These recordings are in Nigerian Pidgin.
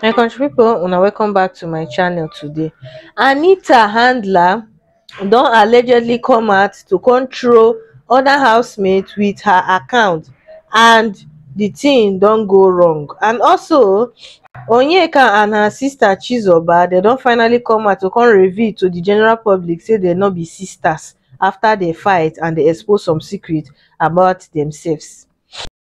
my country pipo una welcome back to my channel today anita handler don allegedly come out to control other housemates with her account and the thing don go wrong and also onyeka and her sister chizoba dem don finally come out to come reveal to the general public say dem no be sisters after dem fight and dem expose some secrets about themselves.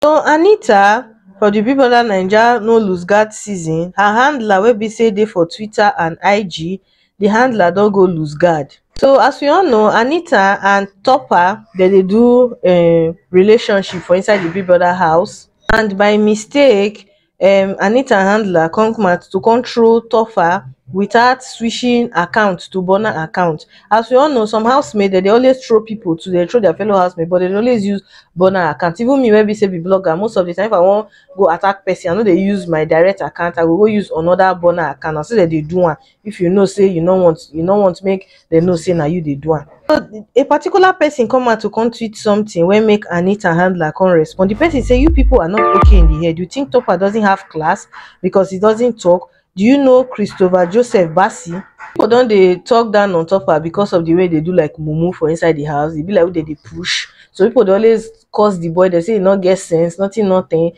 Don Anita from the Big Brother Naija no looseguard season, her handler wey be say dey for Twitter and IG, the handler don go looseguard. So as we all know, Anita and Topper dem dey do um relationship for inside the Big Brother house and by mistake, um anita handler come mat to control tofa without swishing account to burner account as we all know some house mate dem dey always troll people to dey troll their fellow house mate but dem dey always use burner account even me wey be say be blogger most of the time if i wan go attack person i no dey use my direct account i go go use another burner account na so dem dey do am if you know say you no want you no want make dem know say na you dey do am. So a particular person come out to come tweet something wey make Anita handler come respond. The person say you people are not okay in the head. You think Topper doesn't have class because he doesn't talk? Do you know Christopher Joseph Bassi? People don dey talk down on Topper because of the way they do like mumu for inside the house. E be like who dey dey push. So people dey always curse the boy. They say he no get sense, nothing, nothing.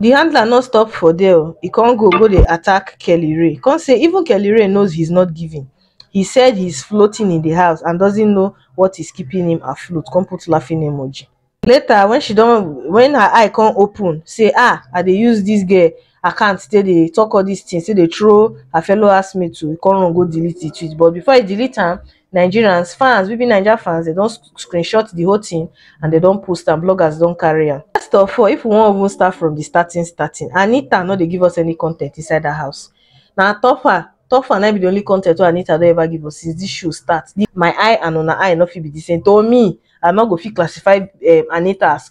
the handler no stop for there o e con go go dey attack kelly rae con say even kelly rae knows he's not giving he said he's floating in the house and doesn't know what is keeping him afloat con put laughing emoji later when she don when her eye con open say ah i dey use this girl account take dey talk all this things take dey throw her fellow housemates o e con run go delete the tweet but before e delete am Nigerians, fans, we be Naija fans, they don screenshot the whole thing and they don post and bloggers don carry am. First of all, if we wan even start from the starting starting, Anita no dey give us any content inside that house. Na Tofa, Tofa na be the only content wey Anita don ever give us since this show start. The, my eye and una eye no fit be the same. To me, I no go fit classify um, Anita as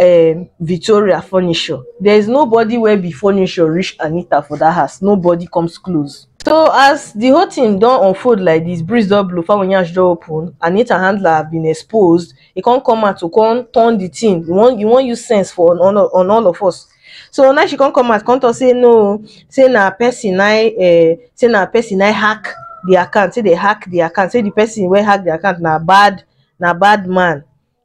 um Victoria furniture. There is nobody wey be furniture reach Anita for that house. Nobody comes close. So as the whole thing don unfold like this, breeze don blow, fowl yansh don open, Anita handler have been exposed. He come come out to come turn the thing. He wan he wan use sense for on, on, on all of us. So now she come come out, come talk say no, say na person na um, say na person na hack the account, say they hack the account, say the person wey hack the account na bad na bad man.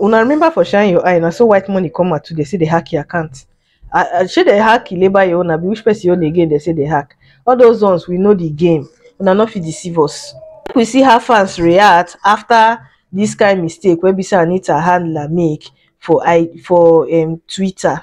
Una remember for shine your eye na so white money come out too dey say dey hack your account ah ah shey dey hack labour your own abi which person own again dey say dey hack all those ones we know the game una no fit deceive us make we see how fans react after this kind mistake wey be say Anita handler make for i for um twitter.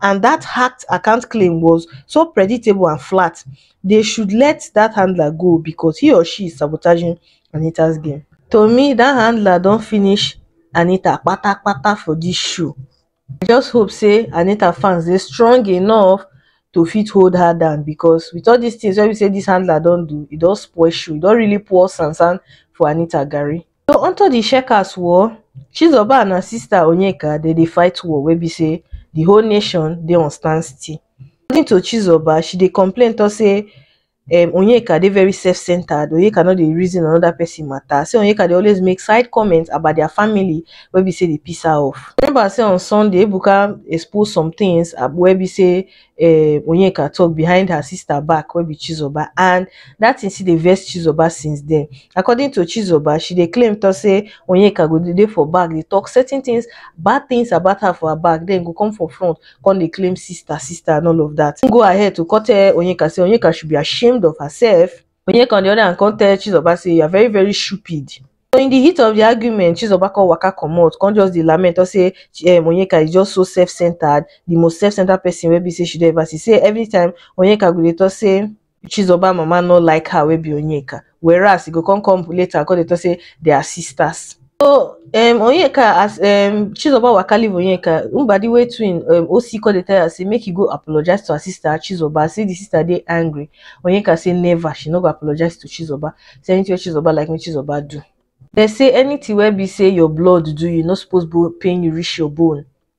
and dat hacked account claim was so predictable and flat dey should let dat handler go becos he or she is sabotaging anita's game to me dat handler don finish anita kpatakpata for dis show i just hope say anita fans dey strong enough to fit hold her down becos with all dis tins wey be say dis handler don do e don spoil show e don really pour sansan for anita garri. So unto di Shakers war, Chizoba and her sister Onyeka dem dey fight war wey be say di whole nation dey on stand still. According to Chizoba, she dey complain talk say um Onyeka dey very self centered, Onyeka no dey reason another person matter, say Onyeka dey always make side comment about their family wey be say dey piss her off. Remember say on Sunday, Ebuka expose some things wey be say um onyeka tok behind her sister back wey be chizoba and dat tin still dey vex chizoba since den according to chizoba she dey claim tok say onyeka go dey dey for back dey tok certain tins bad tins about her for her back den go come for front come dey claim sister sister and all of dat im go ahead to come tell onyeka say onyeka should be ashamed of herself Onyeka on the other hand come tell Chizoba say you are very very stupid. So in the heat of the argument, Chizoba come waka comot, come just dey lament, come say um, Onyeka is just so self-centered, the most self-centered person wey be say she don ever see. Say every time Onyeka go dey talk say Chizoba mama no like her wey be Onyeka, whereas e go come come later come dey talk say they are sisters. So um Onyeka as um Chizoba waka leave Onyeka, Mbadi wey twin um Osi come dey tell her say make he go apologize to her sister Chizoba say the sister dey angry. Onyeka say never, she no go apologize to Chizoba. Say anything wey Chizoba like make Chizoba do. Dem say anything wey be say your blood do you, e no suppose bo pain you reach your bone.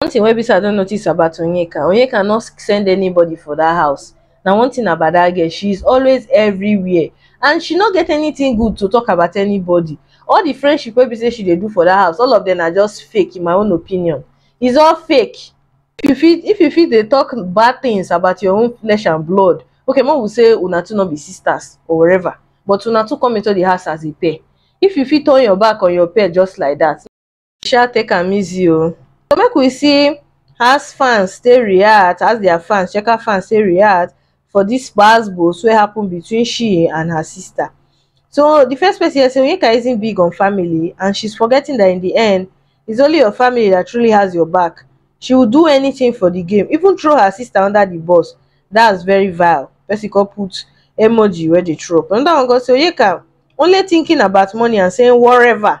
One thing wey be sey I don notice about Onyeka, Onyeka no send anybody for that house. Na one thing about that girl, she is always everywhere and she no get anything good to talk about anybody. All the friendship wey be sey she dey do for that house, all of them na just fake in my own opinion. It's all fake. If you fit if you fit dey talk bad things about your own flesh and blood, okay make we say una two no be sisters or whatever but una two come into the house as a pair, if you fit turn your back on your pair just like that, sha take am easy o so make we see has fans take react as dia fans checker fans take react for dis gbas-gbos wey happen between she and her sister so di first person here say onyeka isn't big on family and she's forgetting that in di end it's only your family that truly has your back she would do anything for di game even throw her sister under di bus that's very vile person come put emoji wey dey throw up anoda one come say onyeka only thinking about money and saying woreva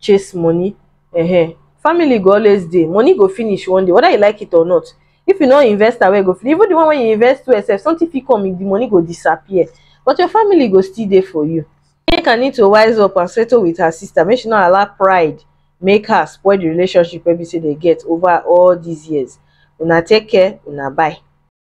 chase money um family go always dey money go finish one day whether you like it or not if you no invest am well e go finish even the one wey you invest well sef something fit come the money go disappear but your family go still dey for you Nneka need to wise up and settle with her sister make she no allow pride make her spoil the relationship wey be say dey get over all these years una take care una bye.